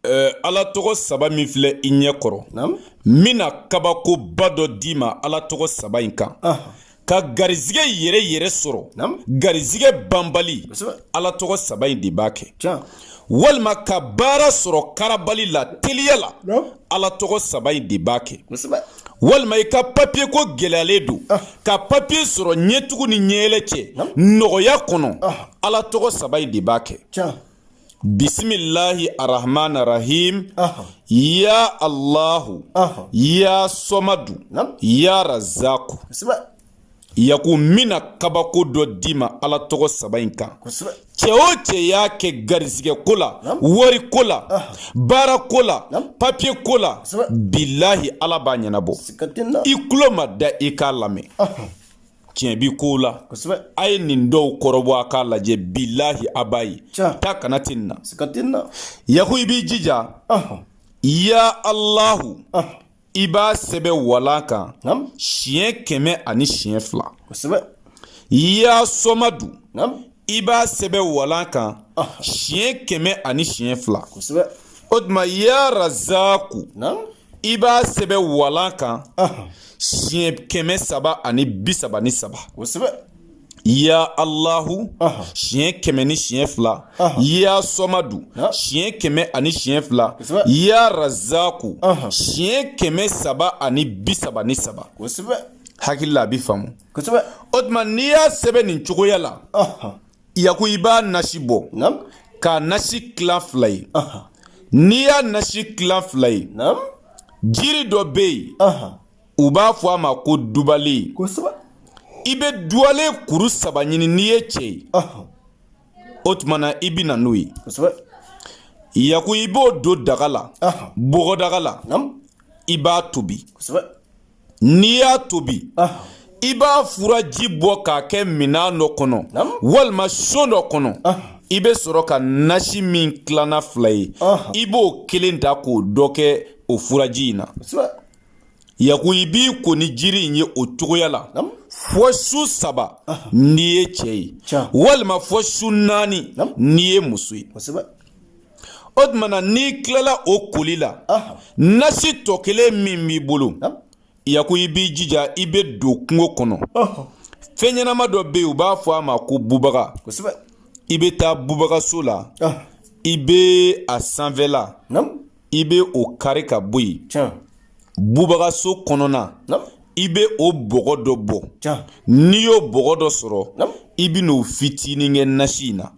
Eh, ala tɔgɔ saba min filɛ i ɲɛ kɔrɔ n bɛna kabakoba dɔ d'i ma ala tɔgɔ saba in kan ka garizigɛ yɛrɛ yɛrɛ sɔrɔ garizigɛ banbali ala tɔgɔ saba in de b'a kɛ walima ka baara sɔrɔ karabali la teliya la ala tɔgɔ saba in de b'a kɛ walima i ka papiye ko gɛlɛyalen don ah. ka papiye sɔrɔ ɲɛtugu ni ɲɛyɛlɛ cɛ nɔgɔya kɔnɔ ah. ala tɔgɔ saba in de b'a kɛ bisimilahi arahman arahim ya allahu ya sɔmadu ya razaku yaku n bɛna kabako dɔ d'i ma ala tɔgɔ saba in kan cɛ o cɛ y'a kɛ garizigɛ ko la wari ko la baara ko la papiye ko la bilahi ala b'a ɲɛnabɔ i tulo ma da i k'a lamɛn tiɲɛ bi ko la kosɛbɛ a ye nin dɔw kɔrɔbɔ a k'a lajɛ bilahi a b'a ye taa kana tɛ nin na siga tɛ nin na yaku i b'i jija ya alahu i b'a sɛbɛ walan kan siɲɛ kɛmɛ ani siɲɛ fila kosɛbɛ ya sɔmadu i b'a sɛbɛ walan kan siɲɛ kɛmɛ ani siɲɛ fila kosɛbɛ o tuma ya razaku i b'a sɛbɛ walan kan siɲɛ kɛmɛ saba ani bi saba ni saba ya alahu siɲɛ kɛmɛ ni siɲɛ fila ya sɔmadu siɲɛ kɛmɛ ani siɲɛ fila ya razaku siɲɛ kɛmɛ saba ani bi saba ni saba hakili la a bi faamu o tuma n'i y'a sɛbɛn nin cogoya la Yaku i b'a nasi bɔ k'a nasi tilan fila ye n'i y'a nasi tilan fila ye jiri dɔ bɛ yen u b'a fɔ a ma ko dubalen i bɛ dubalen kuru saba ɲini n'i ye cɛ ye o tuma na i bɛ na n'o ye yaku i b'o don daga la bɔgɔdaga la i b'a tobi n'i y'a tobi i b'a furaji bɔ k'a kɛ minan dɔ kɔnɔ walima so dɔ kɔnɔ i bɛ sɔrɔ ka nasi min tilanna fila ye i b'o kelen ta k'o dɔ kɛ o furaji in na yaku i b'i ko ni jiri in ye o cogoya la fɔ su saba n'i ye cɛ ye walima fɔ su naani n'i ye muso ye o tuma na n'i tilala o koli la nasi tɔ kelen min b'i bolo yaku i b'i jija i bɛ don kungo kɔnɔ fɛn ɲɛnama dɔ bɛ yen u b'a fɔ a ma ko bubaga i bɛ taa bubagaso la i bɛ a sanfɛla i bɛ o kari ka bɔ yen bubagaso kɔnɔna i bɛ o bɔgɔ dɔ bɔ n'i y'o bɔgɔ dɔ sɔrɔ i bɛ n'o fitinin kɛ nasi in na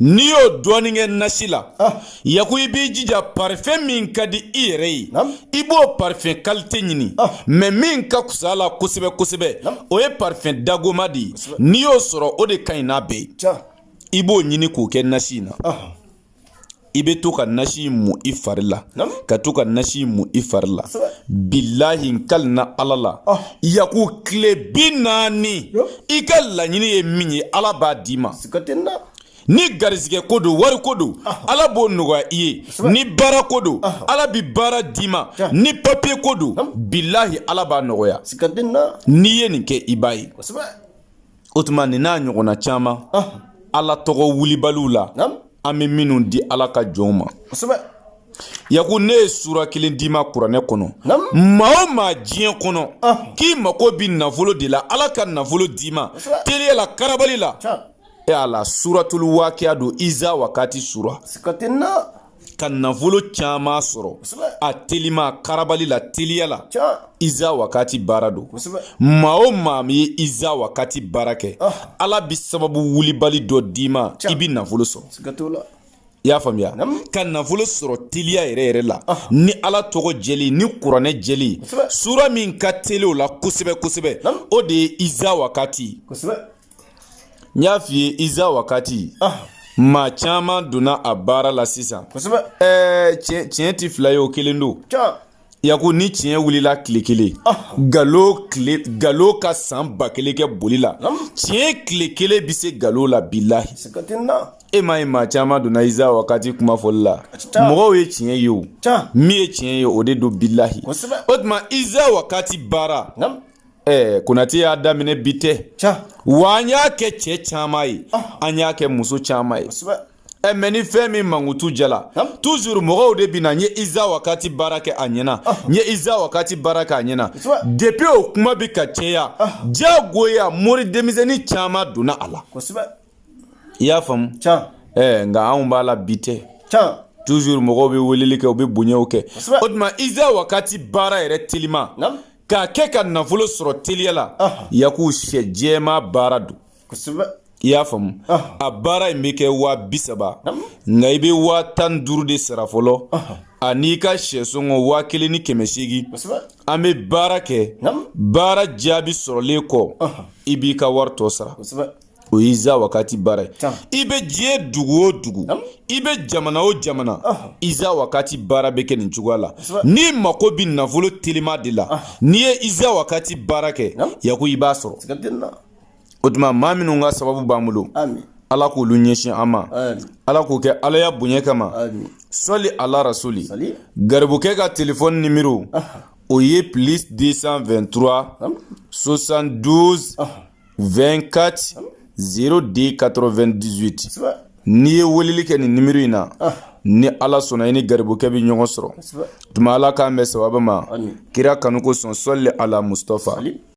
n'i y'o dɔɔnin kɛ nasi la ah. yaku i b'i jija parifɛn min ka di i yɛrɛ ye i b'o parifɛn kalite ɲini ah. mɛ min ka fisa la kosɛbɛ kosɛbɛ o ye parifɛn dagoma de ye n'i y'o sɔrɔ o de ka ɲi n'a bɛɛ ye i b'o ɲini k'o kɛ nasi in na ah. i bɛ to ka nasi mu i fari la ka to ka nasi mu i fari la bilahi n kali na ala la ah. yaku tile bi naani i ka laɲini ye min ye ala b'a d'i ma ni garizigɛ ko don wari ko don ah. ala b'o nɔgɔya i ye ni baara ko don ah. ala bi baara d'i ma ni papiye ko don bilahi ala b'a nɔgɔya n'i ye nin kɛ i b'a ye o tuma nin n'a ɲɔgɔnna caman ala tɔgɔ wulibaliw la an bɛ minnu di ala ka jɔnw ma yaku ne ye sura kelen d'i ma kuranɛ kɔnɔ maa o maa diɲɛ kɔnɔ k'i mako bi nafolo de la ala ka nafolo d'i ma teliya la karabali la e ala suratul wakiya don iza wakati sura ka nafolo caman sɔrɔ a telima karabali la teliya la iza wakati baara don maa o maa min ye iza wakati baara kɛ ah. ala bi sababu wulibali dɔ d'i ma i bi nafolo sɔrɔ i y'a faamuya ka nafolo sɔrɔ teliya yɛrɛ yɛrɛ la ah. ni ala tɔgɔ jɛlen ni kuranɛ jɛlen sura min ka teli o la kosɛbɛ kosɛbɛ o de ye iza wakati n y'a f'i ye iza wakati ah. maa caman donna a baara la sisan ɛɛ tiɲɛ ti fila ye o kelen don yaku ni tiɲɛ wulila tile kelen ah. ga galo ka san ba kelen kɛ boli la tiɲɛ tile kelen bɛ se galo la bilahi e m'a ye maa caman donna iza wakati kuma fɔli la mɔgɔw ye tiɲɛ ye o min ye tiɲɛ ye o de don bilahi o tuma iza wakati baara ɛɛ konate y'a daminɛ bi tɛ wa an y'a kɛ cɛ caman ye ah. an y'a kɛ muso caman ye ɛ mɛ ni fɛn min mankutu diyala tuzuru mɔgɔw de bi na n ye iza wakati baara kɛ a ɲɛna ah. n ye iza wakati baara kɛ a ɲɛna depi o kuma bi ka caya ah. diyagoya mori denmisɛnnin caman donna a la i y'a faamu ɛɛ nka anw b'a la bi tɛ tuzuru mɔgɔw bɛ weleli kɛ u bɛ bonyaw kɛ o tuma iza wakati baara yɛrɛ teliman k'a kɛ ka nafolo sɔrɔ teliya la yaku sɛ jɛman baara don i y'a faamu a baara in bɛ kɛ waa bi saba nka i bɛ waa tan duuru de sara fɔlɔ an'i ka sɛsɔngɔ waa kelen ni kɛmɛ seegin an bɛ baara kɛ baara jaabi sɔrɔlen kɔ i b'i ka wari tɔ sara o ye iza wakati baara ye i bɛ diɲɛ dugu o dugu i bɛ jamana o jamana iza wakati baara bɛ kɛ nin cogoya la n'i mako bɛ nafolo telima de la n'i ye iza wakati baara kɛ yako i b'a sɔrɔ o tuma maa minnu ka sababu b'an bolo ala k'olu ɲɛsin an ma ala k'o kɛ alaya bonya kama sɔli ala rasuli garibukɛ ka telefɔni nimero o ye plus 223 72 24 02 98 n'i ye weleli kɛ nin nimero in na ni ala sɔnna i ni garibukɛ bɛ ɲɔgɔn sɔrɔ tuma ala k'an bɛn sababu ma kira kanu kosɔn sɔli ala mustafa